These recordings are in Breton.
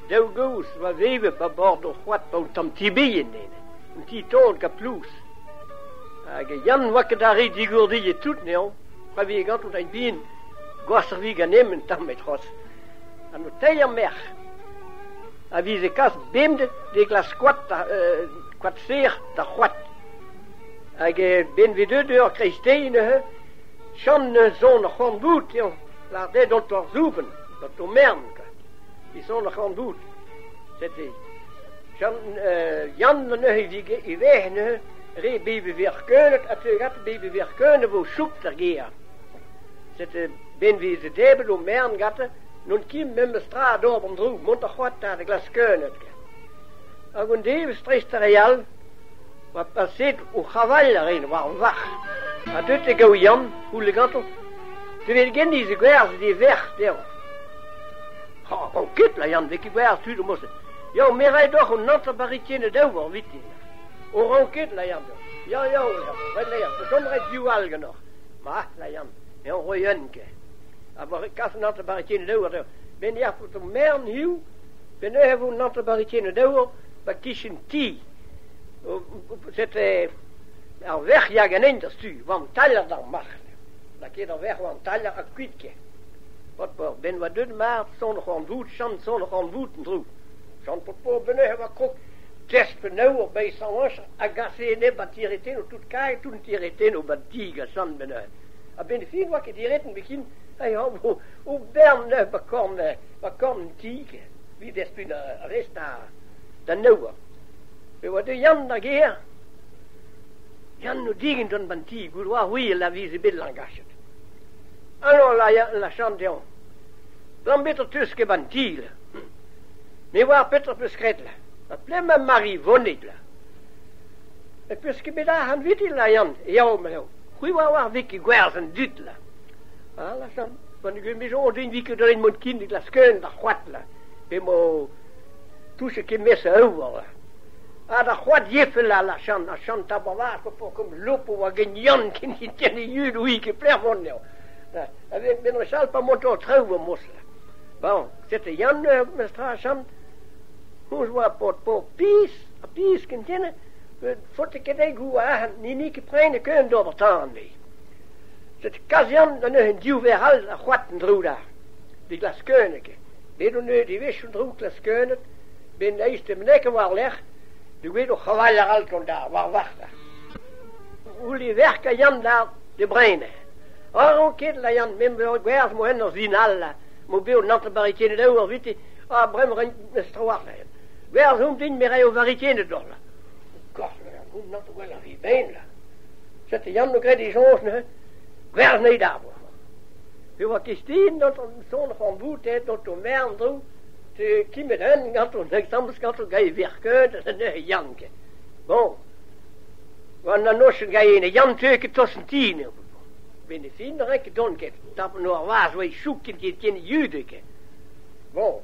Daou gozh a oa vevep a bord ur c'hoad pa oa tamm ti-bihan nevez, un ti-taol kaplous. Hag Yann oa ket arre digourdiet tout anezhañ, pa vije ganto da bihan gwashañ-vi ganemp un tamm e-trouz. Ha o teir merc'h a vize kas bemdez d'e glas koad euh koad-serr d'ar c'hoad. Hag benveg deut eur kreisteiz neuze, Yann 'neus son ar c'horn-boud dezhañ, lâret eo d'an toar-soubenn, d'an tourmern kwa. Isollach an doet. Seti. Jan neuze i veh neuze re bebe verkeunet ha teugat bebe verkeunet vo soupt er gêr. Sete benveze debet o mern gatte n'on ket memes tra d'ober an droug mont ar c'hoat da glaskeunet. Hag un devezh dreist ar re all oa paset o c'haval a ren war an varc'h. Ha deut e gaou Yann, houlle ganto, te vel geniz e gwerzh d'e verc'h dezhañ. Oh, ket, la Yann, vez ket gwerzh tud o mojenn. Yao, me ray doc'h un antra baritienn daou war vitin. O ran ket, la Yann. Ya, ya, la Yann. Red, la Yann, da chom ret div all ganeoc'h. Ma, la Yann, me on roy un ke. A bar kas un antra baritienn daou ar Ben yac'h pou ton mern hiu, ben eh vo un antra baritienn daou ba kichen ti. Set ar vec'h ya ganen da stu, wan taller d'ar marc'h. La ket ar vec'h wan taller ha kuit ke. Hop, ben oa deut mat son c'horn-voud, chom son c'horn-voud en-dro. Chom pot po benec'h e oa krog klesk penaoz hor baesañs a gase enep an tiretenn o tout kae tout an tiretenn o bad dig a sant benec'h. A-benn fin oa ket diretenn bekin, eh a o, o bern neuc'h ba korn, ba korn an tig, evit despun ar rest da nebeud. Pe oa de Yann da gêr, Yann o digent gant ban ti, gouloar oui a lavize bet langachet. Alors la, la chant deomp. Lambet o teus ket an dil. Ne oar petra peus graet la. Ha plema Mari vonit la. E peus ket bet ar hanvitil la Yann, yao ma eo. C'hwi oa war vik e gwerz an dut la. Ah la chant, pan egen me soñj din vik dalen mont kin dit la skeun d'ar c'hoat la. Pe mo touche ket mes a eur la. Ha da c'hoadjefell all asant, asant Tabavard, p'oc'h lopo hag en Yann ken ken e yud ouiz ket plervon eo. Menos all pa moto ho traoù va mostr. Bon, sete Yann, mestr asant, hon oa pod po pis, ha pis ken tene, faote ket eo gou ahan, ni ni ket prene keun d'ober tan me. Sete kazian da neuzen div ver all a c'hoat an droug d'ar. Di glas keunek eo. Bet on eus devezhioù droug glas keunet, Ben eistemnek war-lerc'h, duget o c'havall arall tonda, war-varc'h. Uli verk a yan da de brene. Aron ket la yan member gwerz mo en ur zinal, mo be o nante barikenet eo ar vite, a brem ren estrawaren. Gwerz hon din mere o varikenet dol. Korner, goun nante gwell a vi ben la. Zet yan no gred e jonch ne, gwerz nei d'arbor. Pe oa kistin, not on son c'hamboutet, not o mern drou, Kemer hent ganto Deiz-Tammuz ganto gant e verkeud anezhe Yann ken. Bon, gant an noz gant e Yann teu ket tost ti neuze. Ben e fin ren ket dont ket. Tapet no ar vaz oa e chouk ket get ken yud ken. Bon,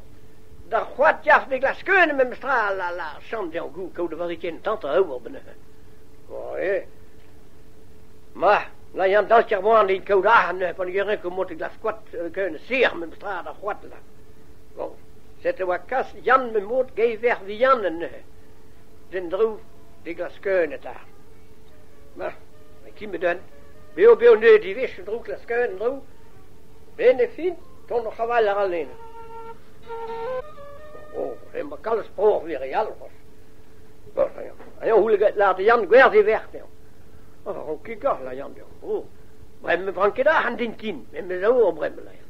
d'ar c'hoad yac'h me glas keun memes tra la la champ d'er gou kaout a vari ken tante a ober benezhe. Bon, e. Ma, la yam dal ker boan e kaout ahan pa ne geren ko mot glas koat keun ser memes tra d'ar c'hoad la. Bon, set' e oa kas Yann Memod geivec'h vihan enne, d'en dro d'e glaskeuenn eta. Ma, met ki 'med eun beo-beo neud ivez, en dro glaskeuenn en-dro. Ben e fin, tont oc'h aval a ra Lena. Oh, emañ kalz pror wir e alvos. Bon, aio houleget lâr da Yann gwerzh e verc'h dezhañ. Oh, ro kikoc'h la Yann deomp. Oh, bremañ me bran ket ac'han din kin, met me zo o bremañ la Yann.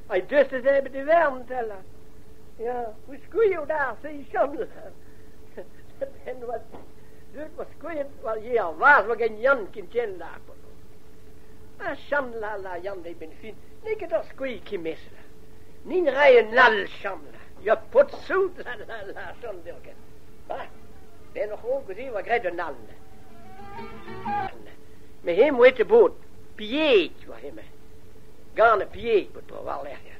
Ai gustez ebet e vern, tella. Ya, kouskuilh out ar seichon. En oa deuet oa skoet war ye ar vaz hag en Yann ken ken la. Cham la la Yann e ben fin, ne ket ur skoilh ki mes la. Nin rai un all cham la. Ya pot soud la la la cham deo ket. Ba, ben oc'h o gouzi oa gret un all. Me hem oe te bod. Pied oa hemañ. Gant a pied 'vo tro-war-lerc'h.